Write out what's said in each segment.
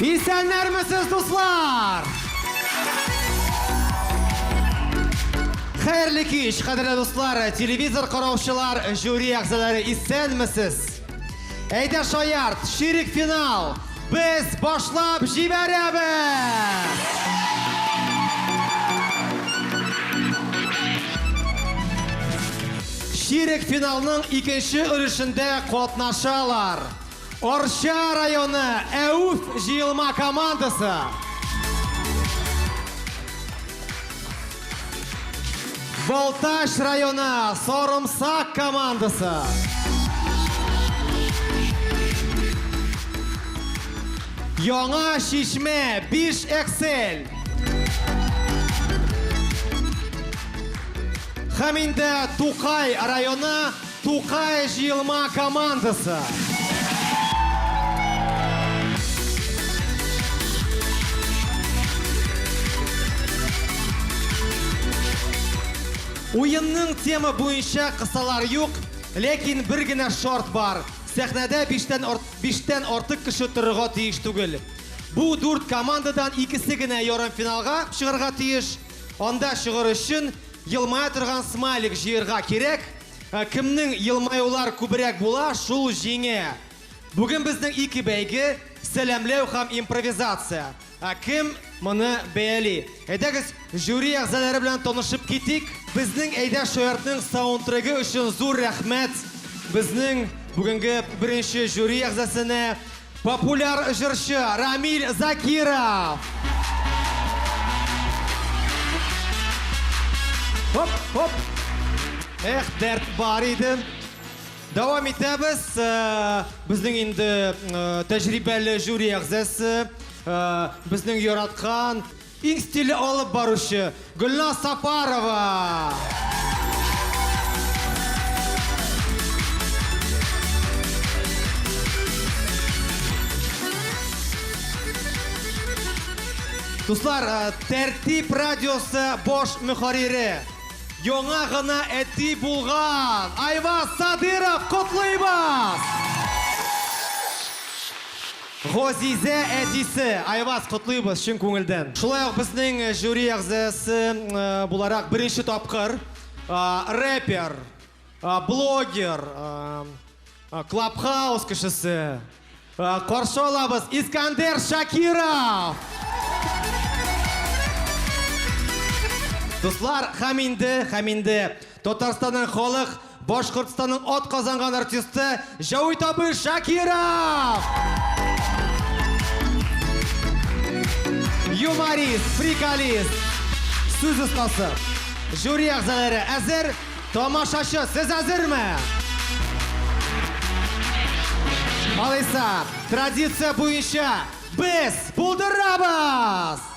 Исәннәрмесез, дуслар! Хәерле кич, кадерле дуслар, телевизор караучылар, жюри әгъзалары, исәнмесез! Әйдә шаярт, ширек финал! Без башлап җибәрәбез! Ширек финалның икенче өлешендә катнашалар. Арча районы Әүф җыелма командасы. Балтач районы Сарымсак командасы. Яңа Чишмә 5 Эксель. Һәм инде Тукай районы Тукай җыелма командасы. Уенның тема буенча кысалар юк, ләкин бер генә шарт бар. Сәхнәдә биштән, ар... биштән артык кеше торырга тиеш түгел. Бу дүрт командадан икесе генә ярымфиналга чыгарга тиеш. Анда чыгыр өчен елмая торган смайлик җыярга кирәк. Кемнең елмаюлар күбрәк була, шул җиңә. Бүген безнең ике бәйге, сәламләү һәм импровизация. Кем моны бәяли? Әйдәгез, жюри әгъзалары белән танышып китик. Безнең Әйдә шаяртның саундтрегы өчен зур рәхмәт безнең бүгенге беренче жюри әгъзасенә. Популяр җырчы Рамиль Закиров! Хоп, хоп! Эх, дәрт бар иде. Дәвам итәбез. Э, безнең инде э, тәҗрибәле жюри әгъзасы, э, безнең яраткан Иң стильле алып баручы, Гөлназ Сапарова! Дуслар, Тәртип радиосы баш мөхәррире, яңа гына әти булган Айваз Садыров котлыйбыз! Газизә әтисе! Айваз, котлыйбыз чын күңелдән! Шулай ук безнең жюри әгъзасы буларак беренче тапкыр рэпер, блогер, Клабхаус кешесе, каршы алабыз, Искандер Шакиров! Дуслар, һәм инде, һәм инде Татарстанның халык Башкортстанның атказанган артисты Җәвит абый Шакиров! юморист, приколист, сүз остасы. Жюри әгъзалары әзер, тамашачы, сез әзерме? Алайса, традиция буенча без булдырабыз!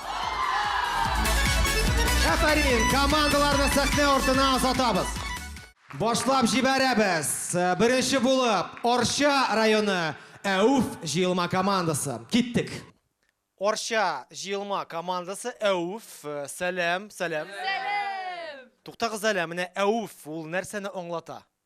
Афәрин, командаларны сәхнә артына озатабыз. Башлап җибәрәбез. Беренче булып, Арча районы Әүф җыелма командасы. Киттек. Арча җыелма командасы Әүф, сәлам, сәлам. Сәлам! Туктагыз әле, менә Әүф ул нәрсәне аңлата?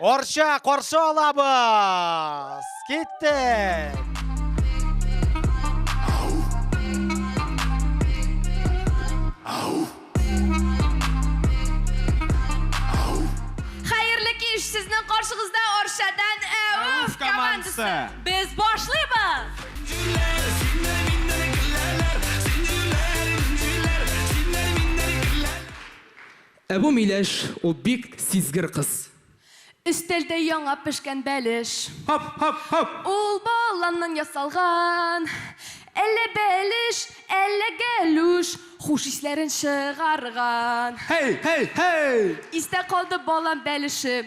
Арча каршы алабыз. Киттек. Хәерле кич, сезнең каршыгызда Арчадан Әүф командасы. Без башлыйбыз. Ә бу миләш, ул бик сизгер кыз. Өстәлдә яңа пешкән бәлеш. Һап! Һап! Һап! Ул баланнан ясалган. Әллә бәлеш, әллә гәлүш. Хуш исләрен чыгарган. Һей! Һей! Һей! Истә калды балан бәлеше.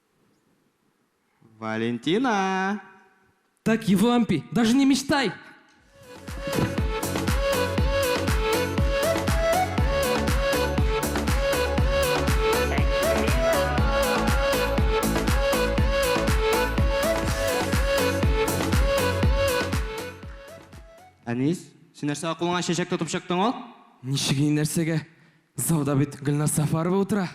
Валентина! Так, Евлампий, даже не мечтай! Әнис, син нәрсәгә кулыңа чәчәк тотып чыктың ул? Ничек инде нәрсәгә? Залда бит Гөлназ Сафарова утыра.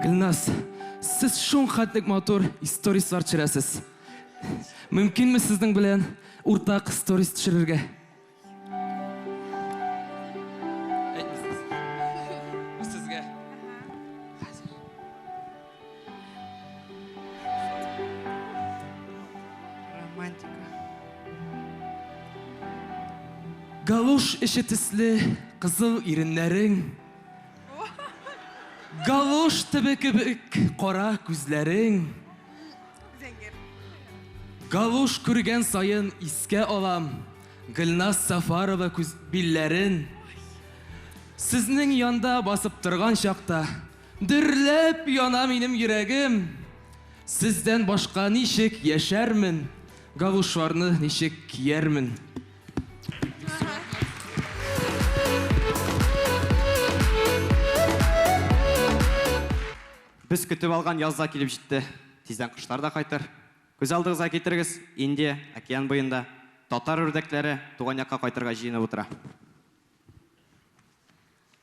Гөлназ, сез шул хәтлек матур историслар төшерәсез. Мөмкинме сезнең белән уртак сторис төшерергә? Галуш эче төсле кызыл иреннәрең, галуш төбе кебек кара күзләрең. Галуш күргән саен искә алам Гөлназ Сафарова күз билләрен. Сезнең янда басып торган чакта Дөрләп яна минем йөрәгем, Сездән башка ничек яшәрмен, Галушларны ничек киярмен. Без көтеп алган яз да килеп җитте. Тиздән кошлар да кайтыр. Күз алдыгызга китерегез, Индия, океан буенда, татар үрдәкләре туган якка кайтырга җыенып утыра.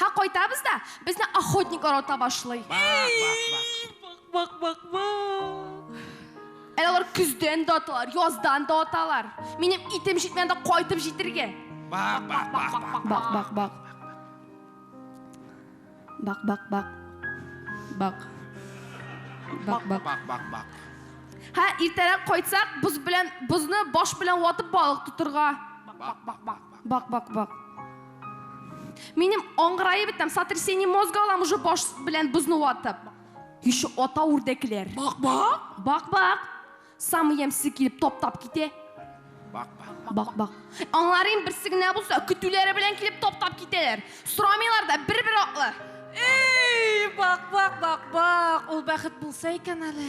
Һә кайтабыз да, безне охотниклар ата башлый. Бак, бак, бак. Әле алар көздән дә аталар, яздан да аталар. Минем итем җитмәгән дә кайтып җитергә. Бак, бак, бак, бак. Бак, бак, бак. Бак, бак, бак. Бак. Бак, бак. Бак, бак, бак. Һә иртәрәк кайтсак, боз белән бозны баш белән ватып балык тотырга. Бак, бак, бак. Бак, бак, бак. Минем аңгырайып бетәм, сотрясение мозга алам уже баш белән бозны ватып. Еще ата үрдәкләр. Бак, бак. Бак, бак. Самый ямьсез килеп топтап китә. Бак, бак. Бак, бак. Аңларым берсе генә булса, көтүләре белән килеп топтап китәләр. Сорамыйлар да, бер-бер атлы. Эй, бак, бак, бак, бак. Ул бәхет булса икән әле.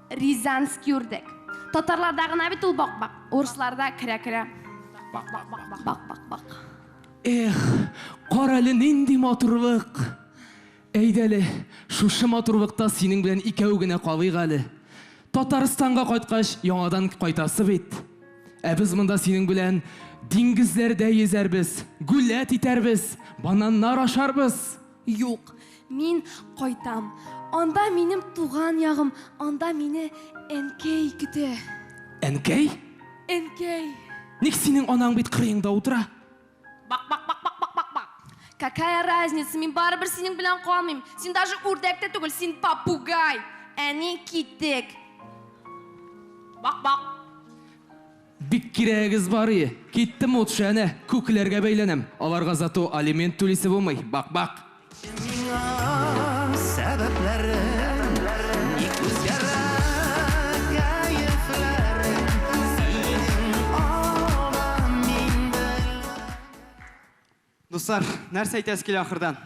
Рязанский үрдәк. Татарларда гына бит ул бак-бак. Урысларда керә-керә. Бак-бак-бак-бак. Эх, карале нинди матурлык! Әйдәле, шушы матурлыкта синең белән икәү генә калыйк әле. Татарстанга кайткач, яңадан кайтасы бит. Ә без монда синең белән диңгезләрдә йөзәрбез, гүләт итәрбез, бананнар ашарбыз. Юк, мин кайтам. Анда минем туган ягым, анда мине әнкәй көтә. Әнкәй? Әнкәй. Ник синең анаң бит кырыеңда утыра? Бак, бак, бак, бак, бак, бак, бак. Какая разница, мин барыбер синең белән калмыйм. Син даже үрдәк тә түгел, син попугай. Әни, киттек. Бак, бак. Бик кирәгегез бар ие. Киттем ут шәне, күкләргә бәйләнәм. Аларга зато алимент түлисе булмый. Бак, бак. Әйтче миңа сәбәпләрен, ник үзгәрә кәефләрең, синең алдан мин белгән. Дуслар, нәрсә әйтәсе килә ахырдан?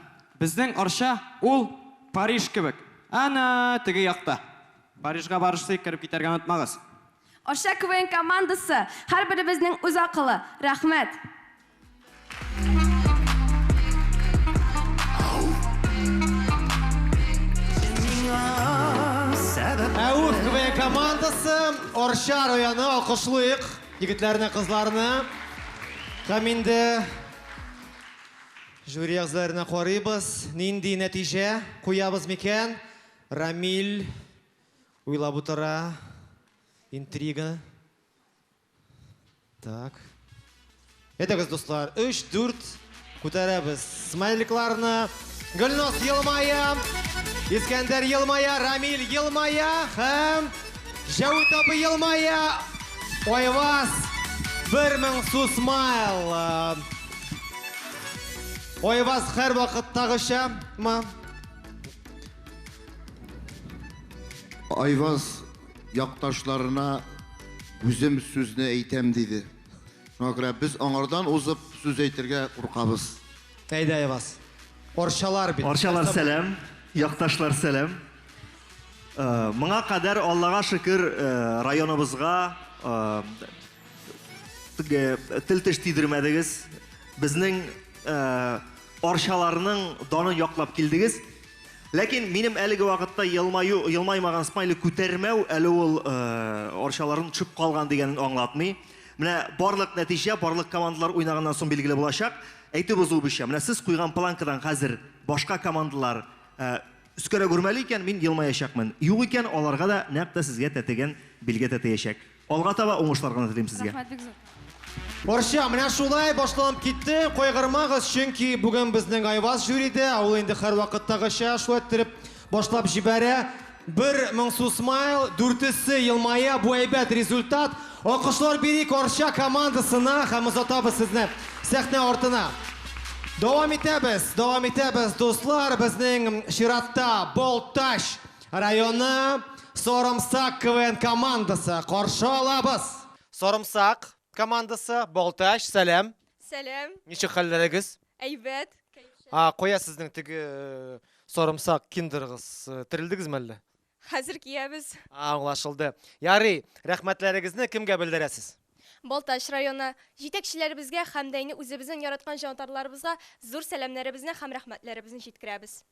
Безнең Арча, ул Париж кебек. Ана, теге якта. Парижга барышсый, кереп китәргә онытмагыз. Арча КВН командасы, һәрберебезнең үз акылы. Рәхмәт! Әүф КВН командасы, Арча районы, алкышлыйк! Егетләрне, кызларны һәм инде жюри әгъзаларына карыйбыз, нинди нәтиҗә куябыз микән? Рамил уйлап утыра. Интрига. Так. Әйдәгез, дуслар, өч, дүрт күтәрәбез смайликларны. Гөлназ елмая, Искәндәр елмая, Рамил елмая һәм Җәүит абый елмая. Айваз, бер мең су смайл. Айваз һәр вакыттагыча ма? Айваз якташларына үзем сүзне әйтәм диде. Шуңа күрә без аңардан узып сүз әйтергә куркабыз. Әйдә, Айваз. Арчалар бит. Арчалар сәлам, якташлар сәлам. Э, моңа кадәр Аллага шөкер э, районыбызга э, тел теш тидермәдегез. Безнең арчаларның данын яклап килдегез. Ләкин минем әлеге вакытта елмаю, елмаймаган смайлик күтәрмәү әле ул э, арчаларын төшеп калган дигәнен аңлатмый. Менә барлык нәтиҗә, барлык командалар уйнаганнан соң билгеле булачак. Әйтеп узу буенча, менә сез куйган планкадан хәзер башка командалар э, өскәрәк үрмәли икән, мин елмаячакмын. Юк икән, аларга да нәкъ тә сезгә тәтеген билгә тәтеячәк. Алга таба уңышлар гына телим сезгә. Рәхмәт бик зур. Барча, менә шулай башланып китте. Кайгырмагыз, чөнки бүген безнең Айваз жюриде, ә ул инде һәрвакыттагыча шулай иттереп башлап җибәрә. Бер моңсу смайл, дүртесе елмая, бу әйбәт результат. Алкышлар бирик Арча командасына һәм озатабыз сезне сәхнә артына. Дәвам итәбез, дәвам итәбез, дуслар, безнең чиратта Балтач Районы Сорымсак КВН командасы каршы алабыз. Сорымсак командасы, Балтач, сәлам. Сәлам. Ничек хәлләрегез? Әйбәт. А, кая сезнең теге э, сорымсак киндергыз? Э, Терелдегезме әллә? Хәзер киябез. А, аңлашылды. Ярый, рәхмәтләрегезне кемгә белдерәсез? Балтач районы җитәкчеләребезгә һәм дә инде үзебезнең яраткан җанатарларыбызга зур сәламнәребезне һәм рәхмәтләребезне җиткерәбез.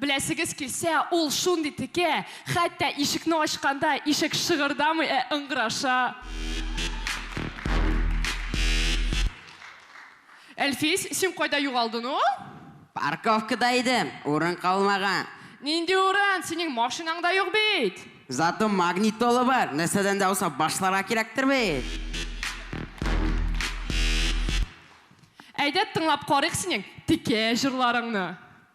Беләсегез килсә, ул шундый текә, хәтта ишекне ачканда, ишек шыгырдамый, ә ыңгыраша. Әлфис, син кайда югалдың ул? Парковкада идем, урын калмаган. Нинди урын, синең машинаң да юк бит! Зато магнит толы бар, нәрсәдән дә булса башларга кирәктер бит! Әйдә, тыңлап карыйк синең текә җырларыңны!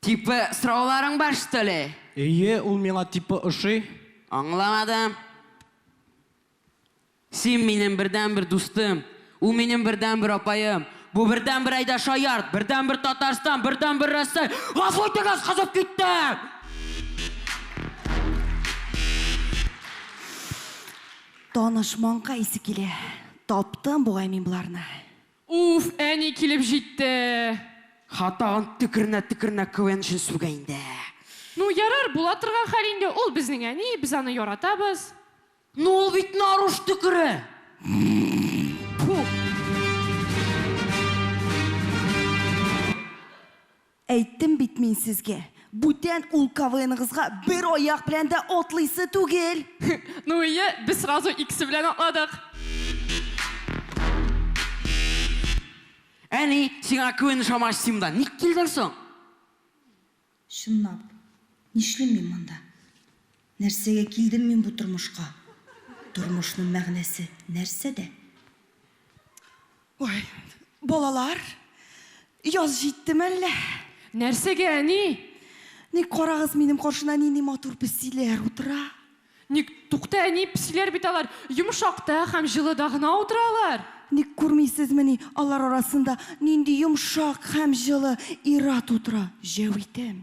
Типы сорауларың бар штоли? Эйе, ул миңа типы ошый. Аңламадым. Син минем бердәнбер дустым. Ул минем бердәнбер апаем. Бу бердәнбер әйдә шаярт, бердәнбер Татарстан, бердәнбер Рәсәй. Гафу итегез, кызып киттем! Таныш маңка исе килә. Таптым бугай мин боларны. Уф, әни килеп җитте. Ха, тагын төкеренә-төкеренә квнчын сүгә инде. Ну, ярар, була торган хәл инде, ул безнең әни, без аны яратабыз. Ну, ул бит наруш төкере! Пфу! Әйттем бит мин сезгә, бүтән ул КВНыгызга бер аяк белән дә атлыйсы түгел! Ну ие, без сразу икесе белән атладык. Әни, сиңа КВН ошамагач, син монда ник килдең соң? Чынлап, нишлим мин монда? Нәрсәгә килдем мин бу тормышка? Тормышның мәгънәсе нәрсәдә? Ой, балалар, яз җиттеме әллә? Нәрсәгә, әни? Ник карагыз, минем каршына нинди матур песиләр утыра. Ник, тукта, әни, песиләр бит алар, йомшакта һәм җылыда гына утыралар. Ник күрмисезмени, алар арасында нинди йомшак һәм җылы ир-ат утыра, Җәвитем.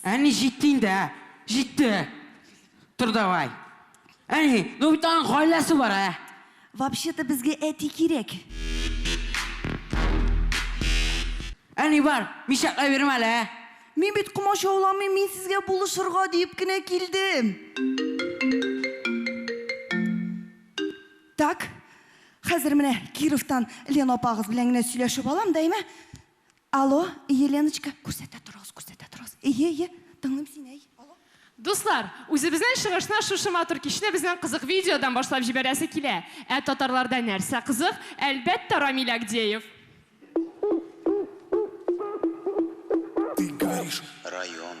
Әни, җитте инде, ә? Җитте! Тор давай! Әни, ну бит аның гаиләсе бар, ә? Вообще-то безгә әти кирәк. Әни, бар, мишәкләй бирмә әле, ә? Мин бит комачауламыйм, мин сезгә булышырга диеп кенә килдем. Так, хәзер менә Кировтан Лена апагыз белән генә сөйләшеп алам да, әйме? Алло, Еленочка, күрсәтә торыгыз, күрсәтә торыгыз. Ие, ие, тыңлыйм сине, әй, алло. Дуслар, үзебезнең чыгышны шушы матур кичне безнең кызык видеодан башлап җибәрәсе килә. Ә татарларда нәрсә кызык? Әлбәттә, Рамил Агдеев! Ты горишь. Район.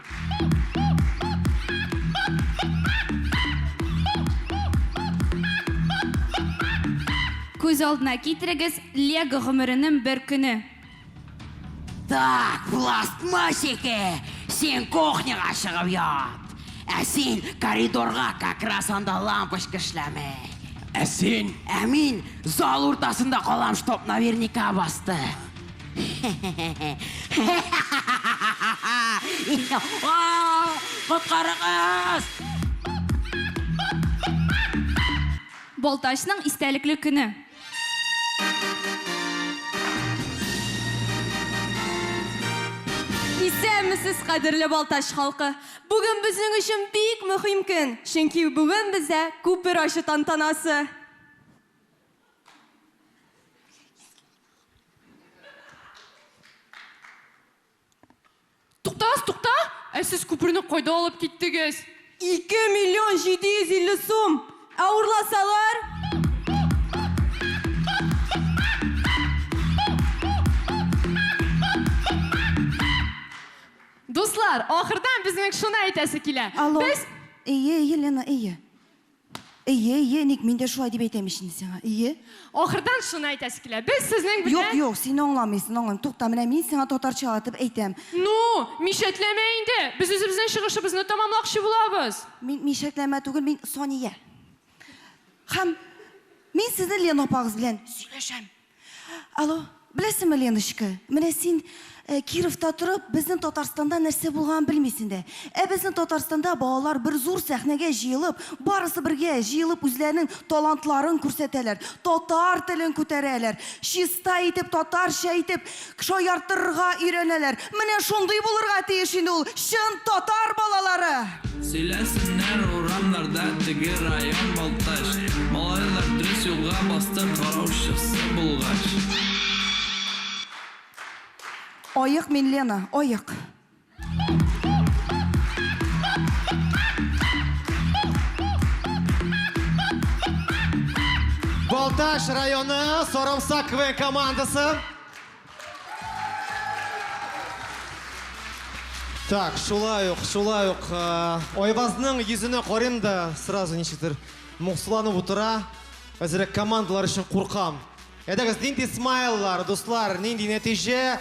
Күз алдына китерегез Лего гомеренең бер көне. Так, пластмассики, син кухняга чыгып ят. Ә син коридорга как раз анда лампочка эшләми. Ә син? Ә мин зал уртасында калам, чтоб наверняка басты. Коткарыгыз! Балтачның истәлекле көне. Исәнмесез, кадерле Балтач халкы! Бүген безнең өчен бик мөһим көн, чөнки бүген бездә күпер ачу тантанасы. Туктагыз, тукта! Ә сез күперне кайда алып киттегез? Ике миллион җиде йөз илле сум! Ә урласалар? Дуслар, ахырдан безнең шуны әйтәсе килә. Алло. Без... Әйе, әйе, Лена, әйе. Ие, ие, ник мин дә шулай дип әйтәм ич инде сиңа. Ие. Ахырдан шуны әйтәсе килә. Без сезнең белән Юк, юк, син аңламыйсың, аңламыйсың. Тукта, менә мин сиңа татарчалатып әйтәм. Ну, мишәтләмә инде! Без үзебезнең чыгышыбызны тәмамлакчы булабыз. Мин мишәтләмә түгел, мин Сания. Һәм мин сезнең Лена апагыз белән сөйләшәм. Алло, беләсеңме, Леночка, менә син э, Кировта торып, безнең Татарстанда нәрсә булганын белмисең дә. Ә безнең Татарстанда балалар бер зур сәхнәгә җыелып, барысы бергә җыелып үзләренең талантларын күрсәтәләр, татар телен күтәрәләр, чиста итеп, татарча итеп Шаяртырга өйрәнәләр. Менә шундый булырга тиеш инде ул чын татар балалары! Сөйләсеннәр урамнарда теге район Балтач Малайлар дрес юлга басты караучысы булгач. Аек мин Лена, аек. Балтач районы Сарымсак КВН командасы. Так, шулай ук, шулай ук. Э, Айвазның йөзенә карыйм да сразу ничектер моңсуланып утыра. Әзерәк командалар өчен куркам. Әйдәгез, нинди смайллар, дуслар, нинди нәтиҗә?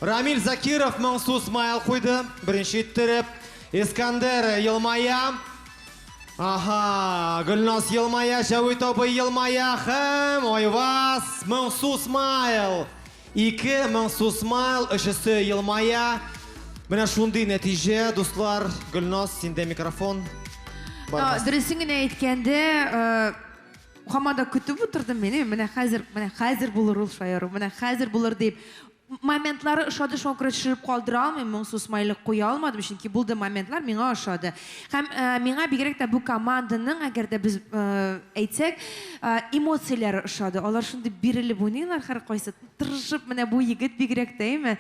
Рамиль Закиров моңсу смайл куйды, беренче иттереп. Искандер елмая. Аха, Гөлназ елмая, Җәвит абый елмая һәм Айваз моңсу смайл. Ике моңсу смайл, өчесе елмая. Менә шундый нәтиҗә, дуслар. Гөлназ, синдә микрофон. Дөресен генә әйткәндә, Хамада көтеп утырдым мени, менә хәзер, менә хәзер булыр ул шаяру, менә хәзер булыр дип. Моментлары ошады, шуңа күрә төшереп калдыра алмыйм, моңсу смайлик куя алмадым, чөнки булды моментлар, миңа ошады. Һәм э, миңа бигрәк тә бу команданың, әгәр дә без э, әйтсәк, э, эмоцияләре ошады. Алар шундый бирелеп уйныйлар һәркайсы, тырышып, менә бу егет бигрәк тә, әйме?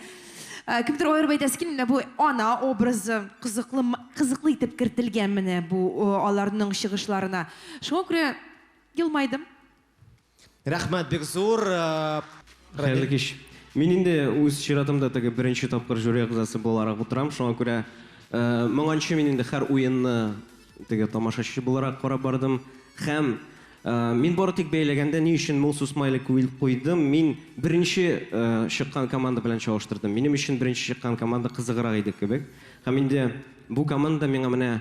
Э, кемдер аерып әйтәсе килми, менә бу ана образы кызыклы, кызыклы итеп кертелгән менә бу э, аларның чыгышларына. Шуңа күрә елмайдым. Рәхмәт бик зур. Хәерле кич. Мин инде үз чиратымда теге беренче тапкыр жюри әгъзасы буларак утырам, шуңа күрә моңанчы мин инде хәр уенны теге тамашачы буларак карап бардым. Хәм мин бары тик бәйләгәндә ни өчен моңсу смайлик куйдым, мин беренче чыккан команда белән чагыштырдым. Минем өчен беренче чыккан команда кызыграк иде кебек. Хәм инде бу команда миңа менә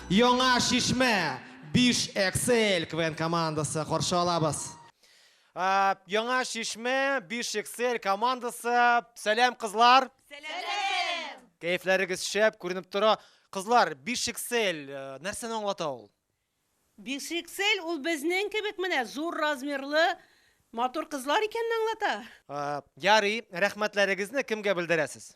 Яңа Чишмә, биш XL КВН командасы каршы алабыз. Яңа Чишмә, биш XL командасы. Сәлам, кызлар! Сәлам! Кәефләрегез шәп, күренеп тора. Кызлар, биш XL, нәрсәне аңлата ул? Биш XL ул безнең кебек менә зур размерлы матур кызлар икәнен аңлата. Ярый, рәхмәтләрегезне кемгә белдерәсез?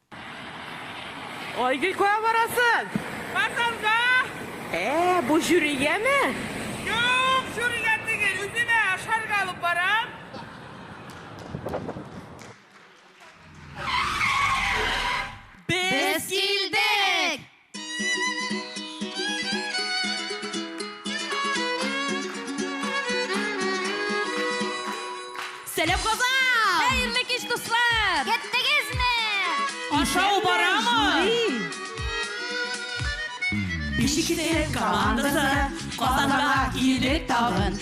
Айгөл, кая барасың? Базарга! Ә, бу җүригәме? Юк, җүригә түгел, үземә ашарга алып барам. Без килдек! Сәлам Казан! Хәерле кич, дуслар! Кеттегезме? Ашау барамы? Бишектә командасы Казанга килдек тагын.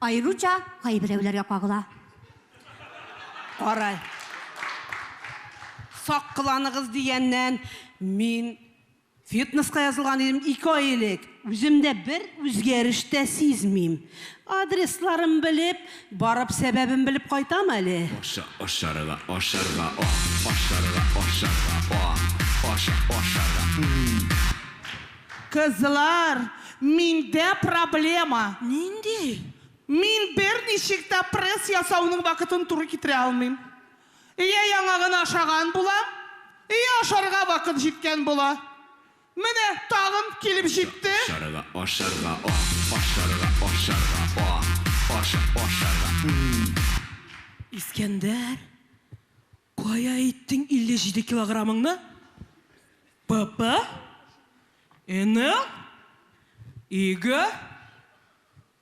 Аеруча кайберәүләргә кагыла. Кара, сак кыланыгыз дигәннән, мин фитнеска язылган идем ике ай элек. Үземдә бер үзгәреш тә сизмим. Адресларын белеп, барып сәбәбен белеп кайтам әле. Аша, ашарга, ашарга, ах, ашарга, ашарга, ах, аша, ашарга, м-м. Кызлар, миндә проблема. Нинди? Мин берничек тә пресс ясауның вакытын туры китерә алмыйм. Йә яңагын ашаган булам, йә ашарга вакыт җиткән була. Менә тагын килеп җитте. Ашарга, ашарга, ох! Ашарга, ашарга, ох! Ашарга, ашарга, м-м! Искәндәр, Кая иттең 57 килограмыңны? ПП? Эне? Иге?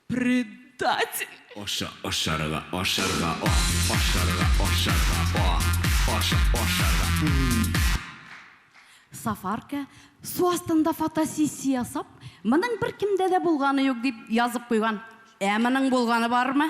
Предатель! Аша, ашарга, ашарга, о, ашарга, ашарга, о, аша, ашарга, м. Сафарка, су астында фотосессия ясап, моның беркемдә дә булганы юк дип язып куйган. Ә моның булганы бармы?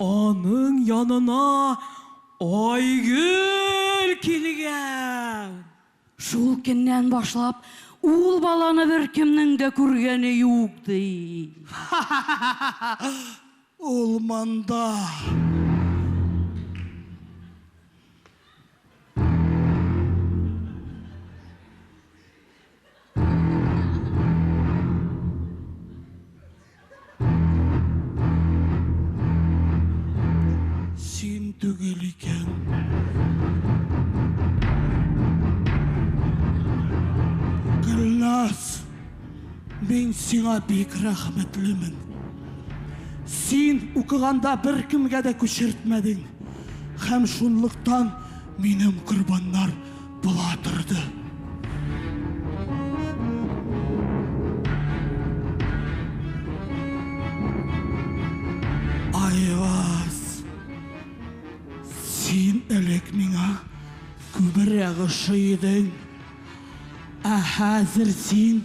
Аның янына Айгөл килгән. Шул көннән башлап, ул баланы беркемнең дә күргәне юк, ди. Ха-ха-ха-ха-ха! Ул монда. Мин сиңа бик рәхмәтлемен. Син укыганда бер кемгә дә күчертмәдең. Һәм шунлыктан минем корбаннар Була торды. Айваз, син элек миңа күбрәк ошый идең. Ә хәзер син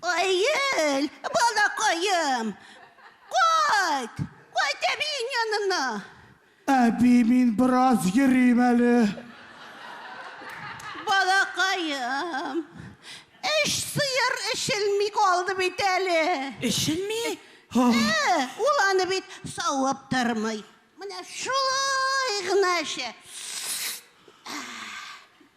Аел, балакаем, кайт, кайт әбиең янына. Әби, мин бераз йөрим әле. Балакаем, эш сыер эчелми калды бит әле. Эчелми? Ә, ул аны бит савып тормый. Менә шулай гына эчә.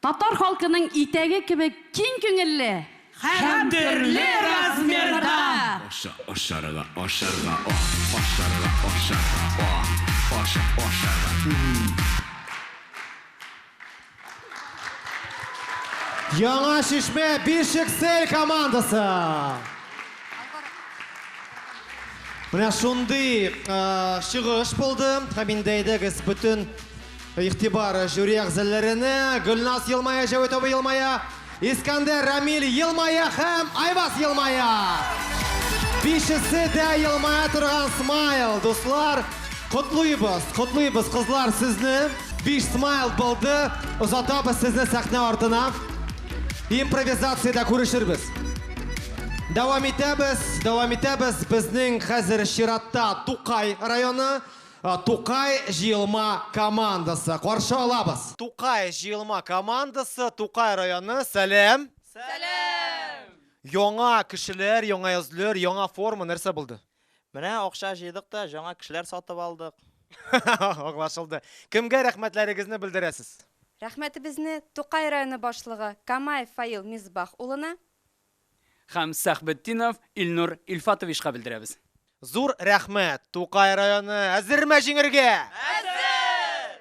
Татар халкының итәге кебек киң күңелле һәм төрле размерда! Аша, ашарга, ашарга, ах, ашарга, ашарга, ах, аша, ашарга, м-м-м. Яңа Чишмә Бишексель командасы! Менә шундый чыгыш булды һәм инде әйдәгез бөтен Игътибар жюри әгъзаларына, Гөлназ елмая, Җәвит абый елмая, Искәндәр, Рамил елмая һәм Айваз елмая! Бишесе дә елмая торган смайл, дуслар! Котлыйбыз, котлыйбыз, кызлар, сезне! Биш смайл булды, озатабыз сезне сәхнә артына. Импровизациядә күрешербез. Дәвам итәбез, дәвам итәбез, безнең хәзер чиратта Тукай районы. Тукай җыелма командасы, каршы алабыз! Тукай җыелма командасы, Тукай районы, сәлам! Сәлам! Яңа кешеләр, яңа йөзләр, яңа форма, нәрсә булды? Менә акча җыйдык та, җаңа кешеләр сатып алдык. Аңлашылды. Кемгә рәхмәтләрегезне белдерәсез? Рәхмәтебезне Тукай районы башлыгы Камаев Фаил Мисбах улына, Һәм Сәхбетдинов Илнур Илфатовичка белдерәбез. Зур рәхмәт! Тукай районы әзерме җиңергә? Әзер!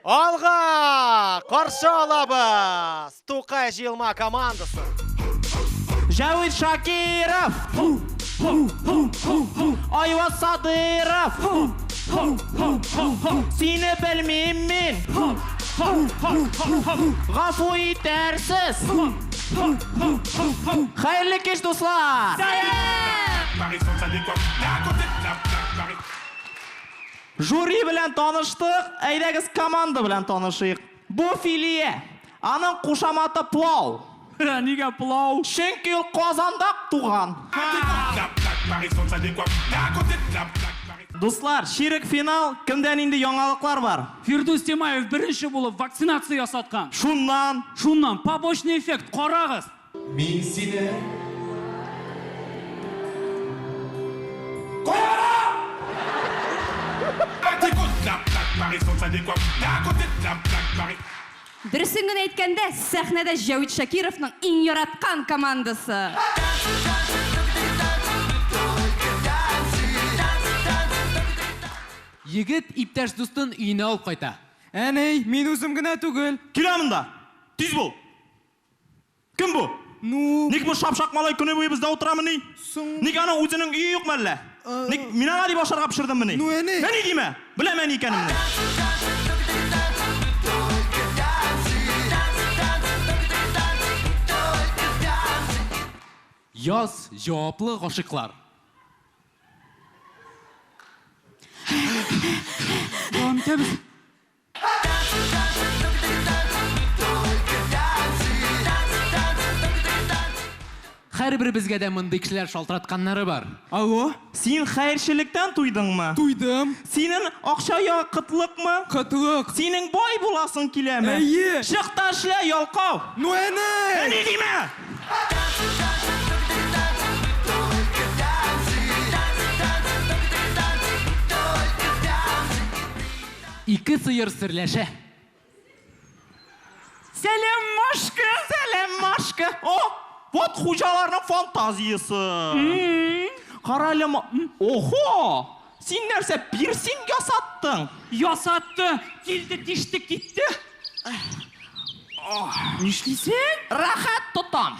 Алга! Каршы алабыз! Тукай җыелма командасын! Җәвит Шакиров! Айваз Садыйров! Сине белмим мин! Гафу итәрсез! Хәерле кич, дуслар! Жюри белән таныштык, әйдәгез команда белән танышыйк. Бу Филия. Аның кушаматы Плау. Нигә плау? Чөнки ул Казанда туган. Дуслар, чирек финал, кемдә нинди яңалыклар бар? Фирдүс Тимаев беренче булып вакцинация ясаткан. Шуннан. Шуннан. Побочный эффект, карагыз. Мин сине Дөресен генә әйткәндә, сәхнәдә Җәвит Шакировның иң яраткан командасы. Егет иптәш дустын өенә алып кайта. Әни, мин үзем генә түгел. Килә монда! Тиз бул! Кем бу? Ну? Ник бу шапшак малай көне буе бездә утырамыни? Соң? Ник аның үзенең өе юкмы әллә? Ник, мин аңа дип ашарга пешердеммени? Ну, әни! Әни димә! Беләм әни икәнемне. Яз, җаваплы гашыйклар. Дәвам итәбез. Һәрберебезгә дә мондый кешеләр шалтыратканнары бар. Алло, син хәерчелектән туйдыңмы? Туйдым. Синен акча я кытлыкмы? Кытлык. Синең бай буласың киләме? Әйе. Чык та эшлә, ялкау! Ну әни! Әни димә! Ике сыер серләшә. Сәлам, Машка! Сәлам, Машка! О, вот хуҗаларның фантазиясе. Кара әле, охо! Син нәрсә, пирсинг ясаттың? Ясатты, килде, тиште, китте. Нишлисең? Рәхәт тотам.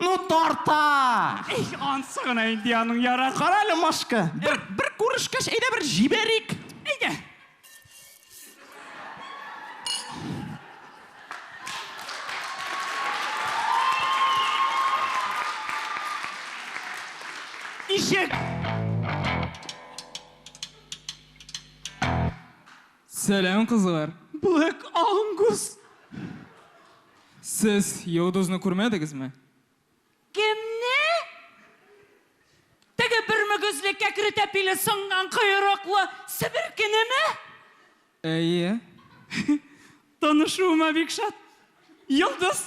Ну тарта! Их, ансы гына инде аның ярар. Кара әле Машка, бер, бер күрешкәч, әйдә бер җибәрик. Әйдә. Ишек! Сәлам кызлар! Блэк Ангус! Сез йолдызны күрмәдегезме? Кемне? Теге бер мөгезле, кәкре тәпиле, сынган коерыклы себеркенеме? Әйе. Танышуыма бик шат. Йолдыз!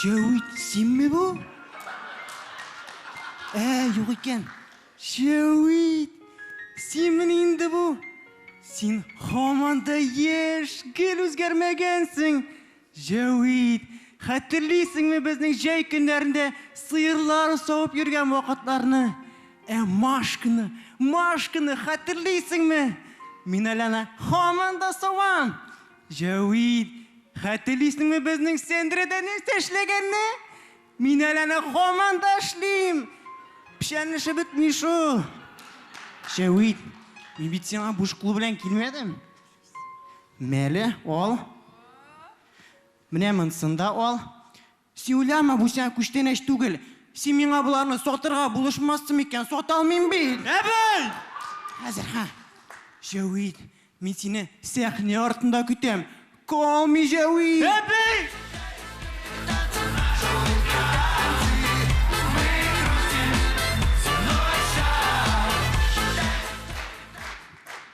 Җәвит, синме бу? Ә, юк икән. Җәвит, синме инде бу? Син һаман да яшь, гел үзгәрмәгәнсең. Җәвит, хәтерлисеңме безнең җәй көннәрендә сыерлар савып йөргән вакытларны? Ә Машканы, Машканы хәтерлисеңме? Мин әле аны һаман да савам. Җәвит, хәтерлисеңме безнең сәндерәдә нәрсә эшләгәнне? Мин әле аны һаман да эшлим. Печән эше бетми шул. Җәвит, мин бит сиңа буш кул белән килмәдем. Мәле, ал. Менә монсын да ал. Син уйлама, бу сиңа күчтәнәч түгел. Син миңа боларны сатырга булышмассың микән? Сата алмыйм бит! Әбей! Хәзер, ха. Җәвит, мин сине сәхнә артында көтәм. Call me Җәвит! Әбей!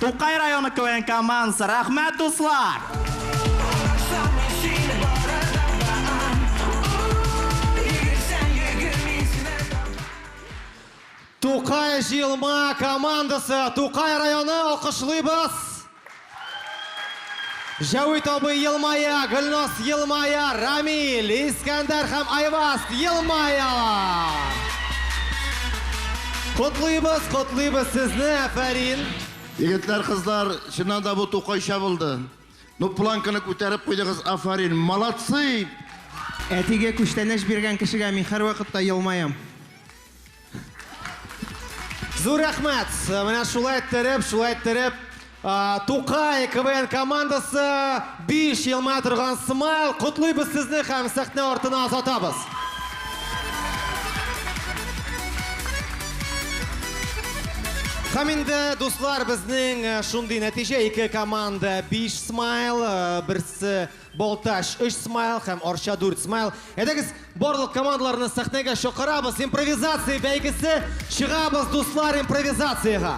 Тукай районы КВН командасы, рәхмәт дуслар! Тукай җыелма командасы, Тукай районы, алкышлыйбыз! Җәвит абый елмая, Гөлназ елмая, Рамил, Искәндәр һәм Айваз елмаялар. Котлыйбыз, котлыйбыз сезне, әфәрин! Егетләр, кызлар, чыннан да бу тукайча булды. Ну планканы күтәреп куйдыгыз, афарин, молодцы! Әтигә күчтәнәч биргән кешегә мин һәрвакыт та елмаям. Зур рәхмәт! Менә шулай тереп, шулай тереп, Тукай КВН командасы биш елма торган смайл. Котлыйбыз сезне һәм сәхнә артына озатабыз. Һәм инде, дуслар, безнең шундый нәтиҗә, ике команда биш смайл, берсе Балтач, өч смайл һәм Арча, дүрт смайл. Әйдәгез, барлык командаларны сәхнәгә чакырабыз. Импровизация бәйгесе. Чыгабыз, дуслар, импровизациягә.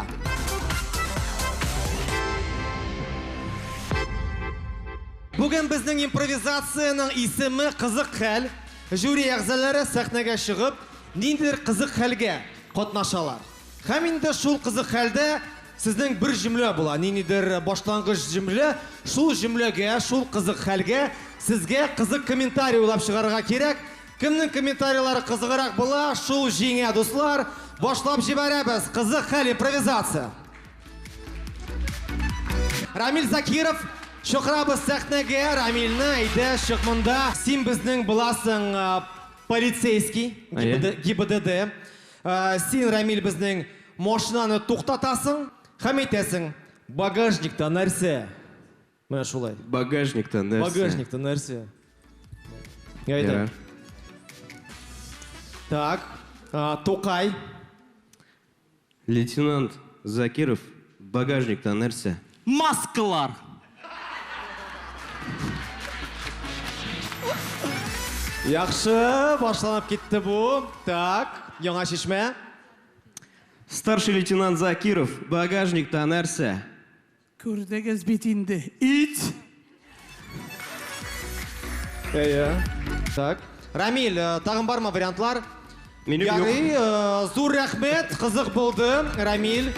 Бүген безнең импровизациянең исеме Кызык хәл. Жюри әгъзалары сәхнәгә чыгып, ниндидер кызык хәлгә катнашалар. Һәм инде шул кызык хәлдә Сезнең бер җөмлә була, ниндидер башлангыч җөмлә, шул җөмләгә, шул кызык хәлгә сезгә кызык комментарий уйлап чыгарырга кирәк. Кемнең комментарийлары кызыграк була, шул җиңә, дуслар. Башлап җибәрәбез, кызык хәл, импровизация. Рамил Закиров, чакырабыз сәхнәгә, Рамилне, әйдә, чык монда. Син безнең буласың полицейский, ГИБДД. Син, Рәмил, безнең машинаны туктатасың һәм әйтәсең, Багажникта нәрсә? Менә шулай. Багажникта нәрсә? Багажникта нәрсә? Әйдә. Так, Тукай. Лейтенант Закиров, багажникта нәрсә? Маскалар! Яхшы, башланып китте бу. Так, яңа чишмә. Старший лейтенант Закиров, багажникта нәрсә? Күрдегез бит инде. Ит! Әйе. Так. Рамиль, э, тагын бармы вариантлар? Минем юк. Ярый, э, зур рәхмәт, кызык булды, Рамиль.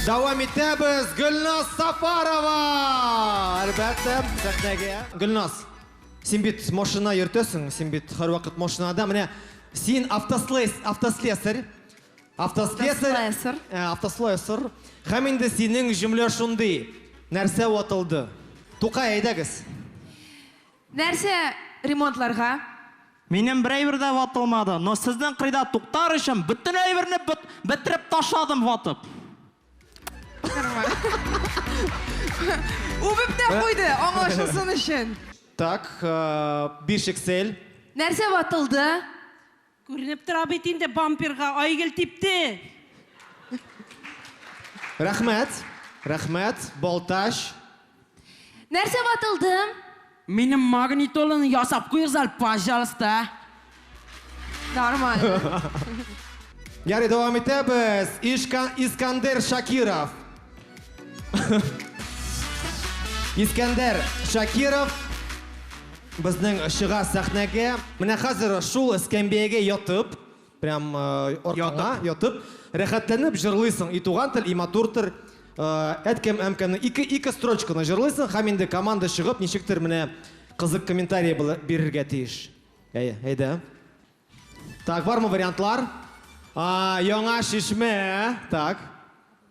Дәвам итәбез, Гөлназ Сафарова! Әлбәттә, сәхнәгә. Гөлназ, син бит машина йөртәсең, син бит һәрвакыт машинада. Менә син автослес, автослесарь. Автослесарь. Автослесарь. Һәм инде синең җөмлә шундый. Нәрсә ватылды? Тукай, әйдәгез. Нәрсә ремонтларга? Минем бер әйбер дә ватылмады, но сезнең кыйда туктар өчен бөтен әйберне бетереп ташладым ватып. Үбеп тә куйды, аңлашылсын өчен. Так, бишексель. Нәрсә ватылды? Күренеп тора бит инде бамперга Айгөл типте! Рәхмәт! Рәхмәт! Балтач! Нәрсә ватылдым? Минем магнитоланы ясап куегыз әле, пожалуйста! Нормально. Ярый, дәвам итәбез. Искандер Шакиров. Искәндәр Шакиров безнең чыга сәхнәгә. Менә хәзер шул эскәмбиягә ятып, прям э, аркаңа ятып, рәхәтләнеп җырлыйсың. И туган тел, и матур тел. Э, Әткәм әмкәмне ике ике строчканы җырлыйсың һәм инде команда чыгып ничектер менә кызык комментарий била- бирергә тиеш. Әй, әйдә. Так, бармы вариантлар? А, яңа шишмә. Так.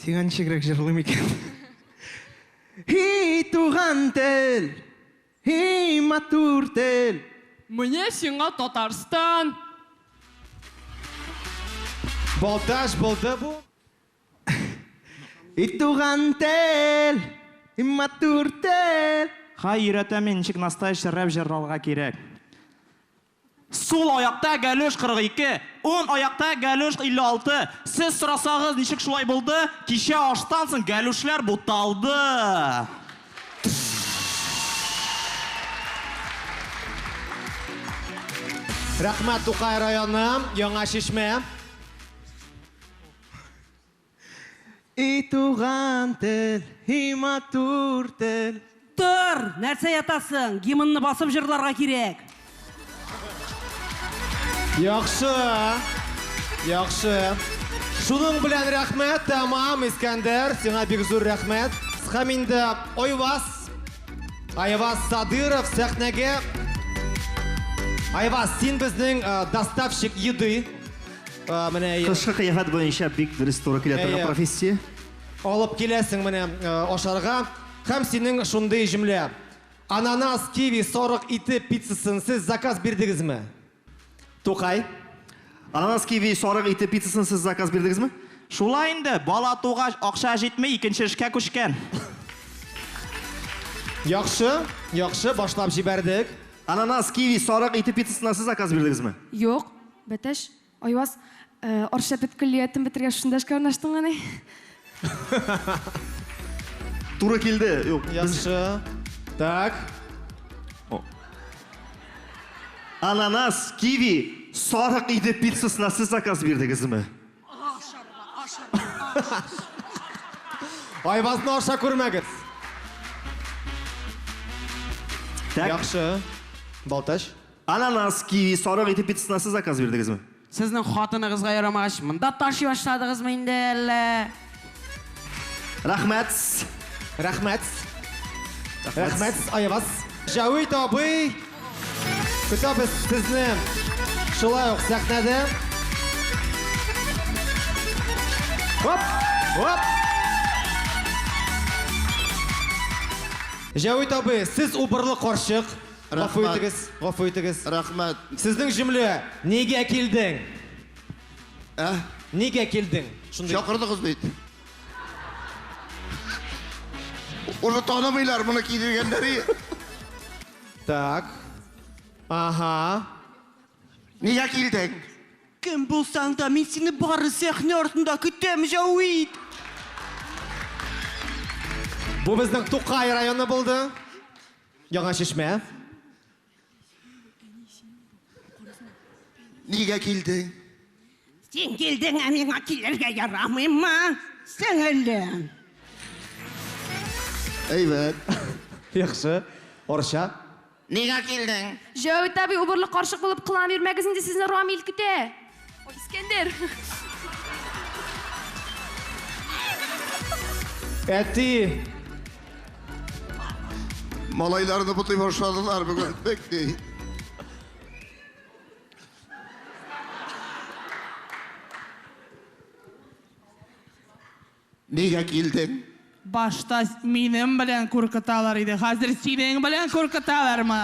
Сиңа ничегрәк җырлыйм икән? Һи, туган тел! Һи, матур тел! Менә сиңа Татарстан! Балтач булды бу! Һи, туган тел! Һи, матур тел! Һай, өйрәтәм мин, ничек настоящий рэп җырларга кирәк. Сул аякта Галеш 42, уң аякта Галеш 56. Сез сорасагыз, ничек шулай булды? Кичә аштан соң Галешләр буталды. Рәхмәт, Тукай районы, Яңа Чишмә. И туган тел, и матур тел. Тор! Нәрсә ятасың? Гимнны басып җырларга кирәк. Яхшы! Яхшы! Шуның белән рәхмәт, тәмам, Искәндәр, сиңа бик зур рәхмәт. Һәм инде Айваз, Айваз Садыров сәхнәгә. Айваз, син безнең э, доставщик еды. А, менә әйе. Кышкы кыяфәт буенча бик дөрес туры килә торган Әйе. профессия. Алып киләсең менә э, ашарга. Һәм синең шундый җөмлә. Ананас, киви, сарык ите пиццасын сез заказ бирдегезме? Тукай. Ананас, киви, сарык ите пиццасын сез заказ бирдегезме? Шулай инде, бала тугач, акча җитми, икенче эшкә күчкән. Яхшы, яхшы, башлап җибәрдек. Ананас, киви, сарык ите пиццасына сез заказ бирдегезме? Юк. Бәтәч, Айваз, Оршәпет көллиятен бетергәч шунда эшкә урнаштыңмы ни? Туры килде. Юк, без. Яхшы. Так. Ананас, киви, сарык иде пиццасына сез заказ бирдегезме? Айвазны аша күрмәгез. Так. Яхшы. Балтач, Ананас, киви, сарык ите пиццасына сез заказ бирдегезме? Сезнең хатыныгызга ярамагач, монда ташый башладыгызмы инде әллә? Рәхмәт! Рәхмәт! Рәхмәт! Аябас! Җәвит абый! Көтәбез сезне шулай ук сәхнәдә! Оп! Оп! Җәвит абый, сез убырлы карчык. Гафу итегез, гафу итегез. Рәхмәт. Сезнең җөмлә, нигә килдең? Ә? Нигә килдең? Шундый. Чакырдыгыз бит. Уже танымыйлар моны кидергәннәре. Так. Ага. Нигә килдең? Кем булсаң да, мин сине бары сәхнә артында көтәм, Җавит. Бу безнең Тукай районы булды. Яңа Чишмә. Нигә килдең? Син килдең, ә миңа килергә ярамыймы, сеңелем? Әйбәт. Яхшы. Орча. Нигә килдең? Җәвит абый, убырлы карчык булып кылана бирмәгез инде, сезне Рамил көтә. Ой, Искәндәр! Әти! Малайларны бутый башладылар бүген. Бик ни. Нигә килдең? Башта минем белән куркыталар иде, хәзер синең белән куркыталармы?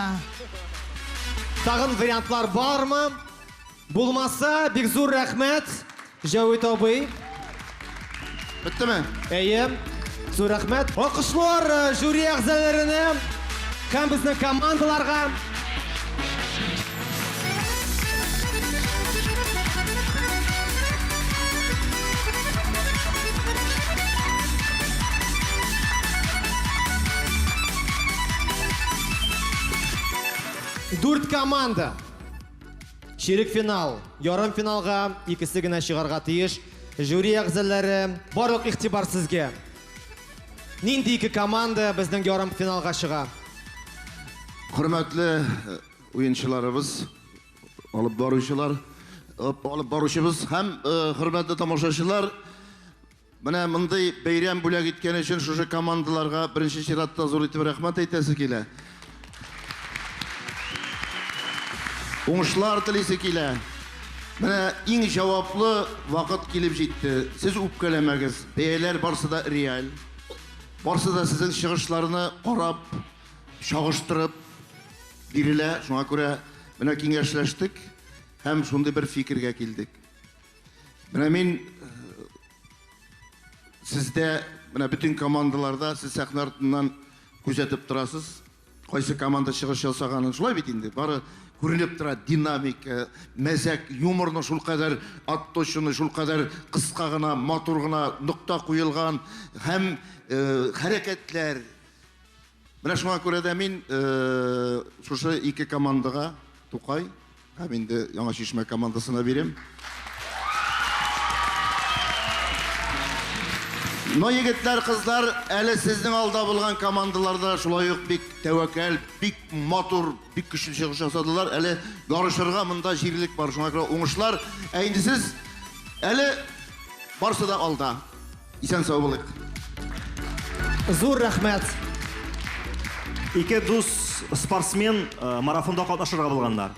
Тагын вариантлар бармы? Булмаса, бик зур рәхмәт, Җәвит абый. Беттеме? Әйе. Зур рәхмәт. Алкышлар жюри әгъзаләренә һәм безнең командаларга. Дүрт команда. Чирек финал, ярым финалга икесе генә чыгарга тиеш. Жюри әгъзалары, барлык игътибар сезгә. Нинди ике команда безнең ярым финалга чыга? Хөрмәтле Уенчыларыбыз, алып баручылар, алып баручыбыз һәм хөрмәтле тамашачылар, менә мондый бәйрәм бүләк иткән өчен шушы командаларга беренче чиратта зур итеп рәхмәт әйтәсе килә. Уңышлар телисе килә. Менә иң җаваплы вакыт килеп җитте. Сез үпкәләмәгез, бәяләр барсы да реаль. Барсы да сезнең чыгышларны карап, чагыштырып, Бирелә, шуңа күрә менә киңәшләштек һәм шундый бер фикергә килдек. Менә мин сездә, менә бөтен командаларда сез сәхнә артыннан күзәтеп торасыз, кайсы команда чыгыш ясаганын, шулай бит инде, бары күренеп тора динамика, мәзәк, юморны шулкадәр отточенный, шулкадәр кыска гына, матур гына нокта куелган һәм хәрәкәтләр, Менә шуңа күрә дә мин шушы ике командага, Тукай һәм инде Яңа Чишмә командасына бирәм. Но, егетләр, кызлар, әле сезнең алда булган командаларда шулай ук бик тәвәкәл, бик матур, бик көчле чыгыш ясадылар. Әле ярышырга монда җирлек бар, шуңа күрә уңышлар. Ә инде сез әле барсы да алда. Исән сау булыйк. Зур рәхмәт. Ике дус спортсмен э, марафонда катнашырга булганнар.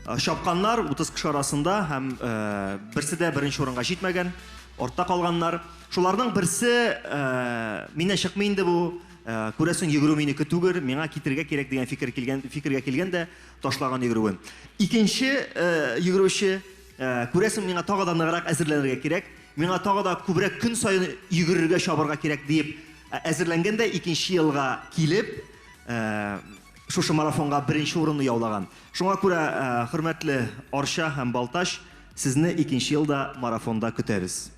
Э, чапканнар 30 кеше арасында һәм э, берсе дә беренче урынга җитмәгән, артта калганнар. Шуларның берсе э, мине чыкмый инде бу, э, күрәсең йөгерү минеке түгел, миңа китерергә кирәк дигән фикер килгән, фикергә килгән дә ташлаган йөгерүен. Икенче э, йөгерүче э, күрәсең миңа тагы да ныграк әзерләнергә кирәк, Миңа тагы да күбрәк көн саен йөгерергә, чабарга кирәк, диеп әзерләнгән дә икенче елга килеп, шушы марафонга беренче урынны яулаган. Шуңа күрә, хөрмәтле Арча һәм Балтач, сезне икенче ел да марафонда көтәбез.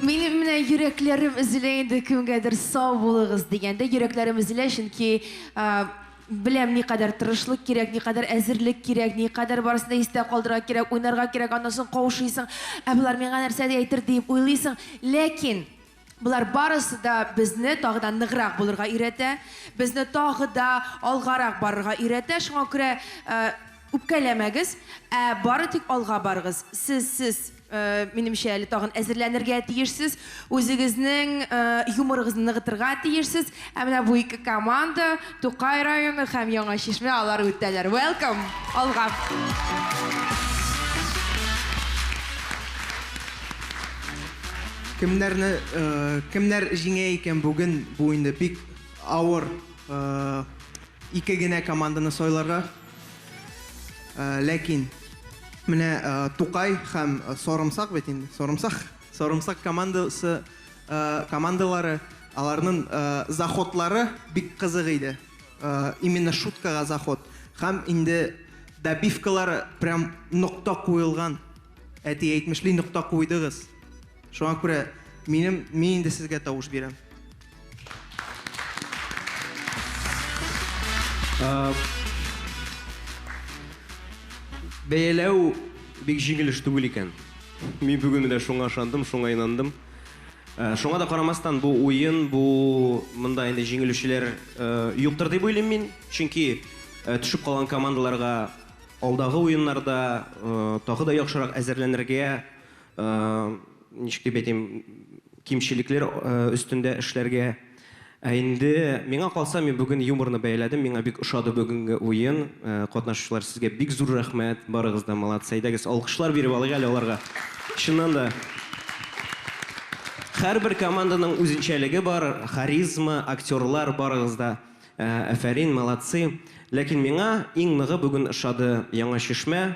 Минем менә йөрәкләрем өзелә инде, кемгәдер сау булыгыз дигәндә, йөрәкләрем өзелә, чөнки, Беләм, никадәр тырышлык кирәк, никадәр әзерлек кирәк, никадәр барысын да истә калдырырга кирәк, уйнарга кирәк, аннан соң каушыйсың, ә болар миңа нәрсә әйтер диеп уйлыйсың. Ләкин болар барысы да безне тагы да ныграк булырга өйрәтә, безне тагы да алгарак барырга өйрәтә. Шуңа күрә үпкәләмәгез, ә бары тик алга барыгыз. Сез, сез. Минемчә, әле тагын әзерләнергә тиешсез. Үзегезнең юморыгызны ныгытырга тиешсез. Ә менә бу ике команда, Тукай районы һәм Яңа Чишмә, алар үтәләр. Welcome! Алга! Кемнәрне, кемнәр җиңә икән бүген? Бу инде бик авыр ике генә команданы сайларга. Ләкин менә Тукай һәм Сарымсак бит инде, Сарымсак, Сарымсак командасы, командалары, аларның заходлары бик кызык иде. Именно шуткага заход. Һәм инде добивкалар прям нокта куелган. Әти әйтмешли, нокта куйдыгыз. Шуңа күрә минем, мин инде сезгә тавыш бирәм. Бәяләү бик җиңел эш түгел икән. Мин бүген менә шуңа ышандым, шуңа инандым. Э, шуңа да карамастан, бу уен, бу монда инде җиңелүчеләр э, юктыр дип уйлыйм мин. Чөнки э, төшеп калган командаларга алдагы уеннарда тагы да яхшырак әзерләнергә ничек дип әйтим, кимчелекләр өстендә эшләргә. Ә инде миңа калса, мин бүген юморны бәяләдем, миңа бик ошады бүгенге уен. Катнашучылар, сезгә бик зур рәхмәт, барыгыз да молодцы. Әйдәгез, алкышлар биреп алыйк әле аларга. Чыннан да. Һәрбер команданың үзенчәлеге бар, харизма, актерлар, барыгыз да афәрин, молодцы. Ләкин миңа иң ныгы бүген ошады Яңа Чишмә.